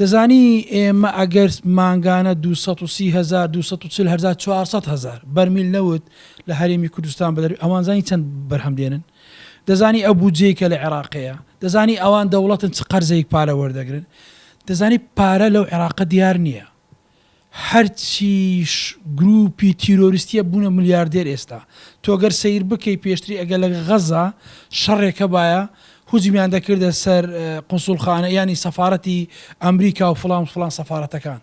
دەزانی ئێمە ئەگەر مانگانە دوو سەد و سی هەزار، دوو سەد و چل هەزار، چوار سەد هەزار بەرمیل نەوت لە هەرێمی کوردستان بە دەر ئەوان زانی چەند بەرهەم دێنن؟ دەزانی ئەو بودجەی کە لە عێراق هەیە؟ دەزانی ئەوان دەوڵەتن چ قەرزەیک پارە وەردەگرن؟ دەزانی پارە لەو عێراقە دیار نییە. هەرچیش گروپی تیرۆریستیە بونە ملیاردێر ئێستا تۆ گەر سەیر بکەی پێشتری ئەگەر لە غەزە شەڕێک هەبایە هجومیان دەکردە سەر قونسولخانە یانی سەفارەتی ئەمریکا و فڵان فڵان سەفارەتەکان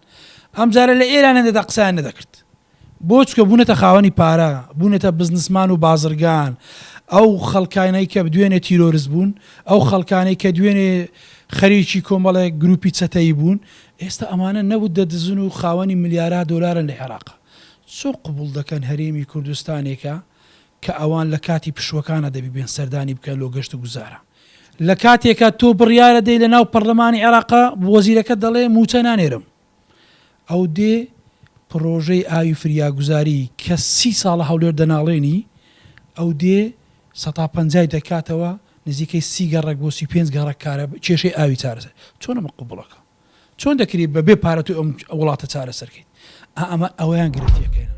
ئەمجارە لە ئێران نەدەدا قسەیان نەدەکرد بۆ چکە بونەتە خاوەنی پارە بونەتە بزنسمان و بازرگان ئەو خەڵکانەی کە دوێنێ تیرۆرست بون ئەو خەڵکانەی کە دوێنێ خەریکی کۆمەڵێک گروپی چەتەیی بون ئێستا ئەمانە نەوت دەدزن و خاوەنی ملیارها دۆلارن لە عێراق چۆن قبوڵ دەکەن هەرێمی کوردستانێکە کە ئەوان لە کاتی پشووەکانا دەبی بێن سەردانی بکەن لۆ گەشت و گوزارا لە کاتێکا تۆ بڕیارە دەی لە ناو پەڕلەمانی عێراقا وەزیرەکەت دەڵێ مووچە نانێرم ئەو دێ پڕۆژەی ئاوی فریاگوزاری کە سی ساڵە هەولێر دەناڵێنی ئەو دێ سەتا پەنجای دەکاتەوە نزیکەی سی گەڕەک بۆ سی و پێنج گەڕەک کارە کێشەی ئاوی چارەسەر چۆن ئەمە قبوڵەکە چۆن دەکری بە بێ پارە تۆ ئەم وڵاتە چارەسەرکەیت ئەمە ئەویان گرفتیەکەیە